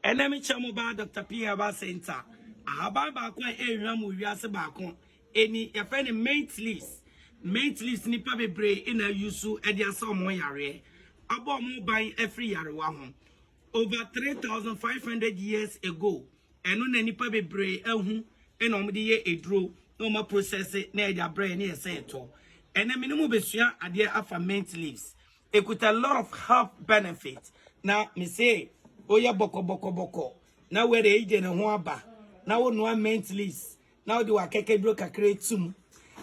Ɛnnɛ me kyɛm mu baa Doctor Pierre Abba Center. Ahaban baako a ɛrehwam wɔ wiase baako ani. Yɛfrɛ no mint leaves. Mint leaves nnipa bebree na use de asa wɔn yareɛ, abɔ wɔn ban afiri yarewa ho. Over 3,500 years ago, ɛno na nnipa bebree ahu na wɔde yɛ aduro na wɔn aprosɛse na yɛde abrɛ yɛn na yɛsɛ yɛtɔ. Ɛnnɛ me ne mo bɛsua adeɛ afa mint leaves. Ekuta lot of health benefit na me se oyɛ bɔkɔ bɔkɔ bɔkɔ na wɛrɛ eyi de ne ho aba na wo noa mint leaves na wode wakɛkɛduro kakra tum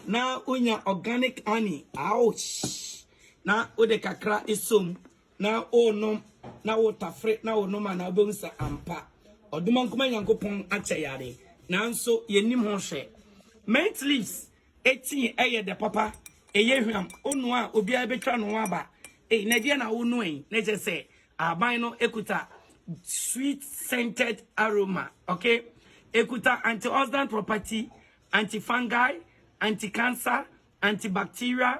na wonya organic honey ouch na wode kakra esom na o nom na wo tafre na wo nom ana wobɛhu sɛ ampa ɔdomankoma nyankopɔn akyɛ yare nanso yɛnim ho hwɛ mint leaves Etii ɛyɛ dɛ papa, ɛyɛ hwam, onua a obiara betwa ne ho aba. Ei, na ɛdeɛn na wonoa yi? Na kyerɛ sɛ ahaban no ekuta sweet scented aroma, okay? Ekuta antioxidant property, antifungal, anticancer, antibacterial,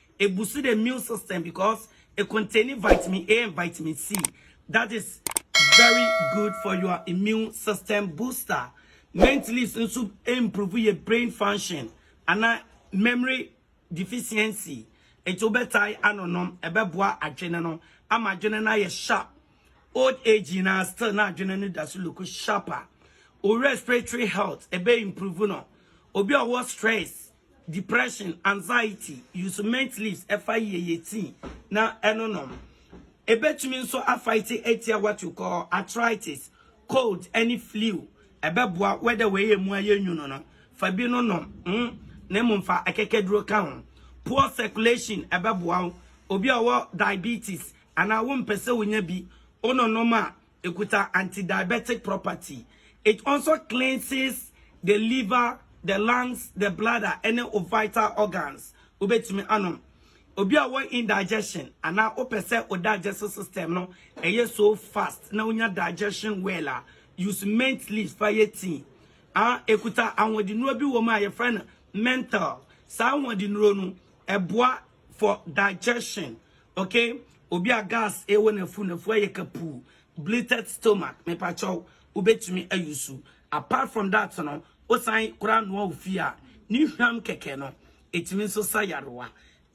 E boosts the immune system because e contains vitamin A and vitamin C that is very good for your immune system booster. Mint leaves nso improve yɛ brain function ana memory deficiency nti wo bɛtae anonom ɛbɛboa adwene no ama adwene no ayɛ sharp old age nyinaa still na adwene no da so look sharper. Wo respiratory health ɛbɛ improve no obi a ɔwɔ stress Depression, anxiety, use mint leaves ɛfa yie yɛ tea na ɛno nom. Ɛbɛtumi nso afaite atia what you call arthritis, cold ɛne flu. Ɛbɛboa whether wei yɛ mu ayɛ nwunu no fa bi no nom mm na mmom fa akɛkɛduro ka ho. Poor circulation ɛbɛboa wo. Obi a ɔwɔ diabetes anaa wompɛ sɛ wonya bi wononom a Ekuta antidiabetic property. It also cleanses the liver, the lungs, the bladder ɛne wo vital organs. Wobɛtumi anom. Obi a ɔwɔ indigestion anaa wopɛ sɛ wo digestive system no ɛyɛ so fast na wonya digestion well a, use mint leaves fa yɛ tea. Ah, ekuta ahoɔdennuro bi wɔ mu a yɛfrɛ no menthol. Saa ahoɔdennuro no, ɛboa for digestion. okay obi a gas ɛwɔ n'afu n'afu ayɛ kapuu bleated stomach mepakyɛw wobɛtumi ayusu apart from that no wosan koraa noa ofi a ne hwam kɛkɛ no ɛtumi nso sa yarewa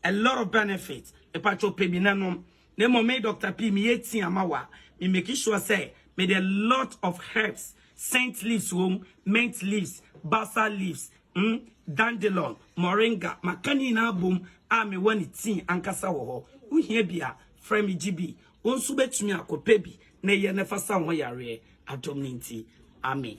a lot of benefits mepakyɛw pɛ bi na nom na mmom me Dr. P meyɛ tea ama wa me make sure sɛ mede a lot of herbs scent leaves wom mint leaves balsam leaves Mm, dandelon, moringa, maka ne nyinaa bom a mewɔ ne tii ankasa wɔ hɔ. Wohia bi a, frɛ me gye bi. Wo nso wobɛtumi akɔpɛ bi na yɛ na fa sa wo ho yareɛ. Adom no nti. Amen.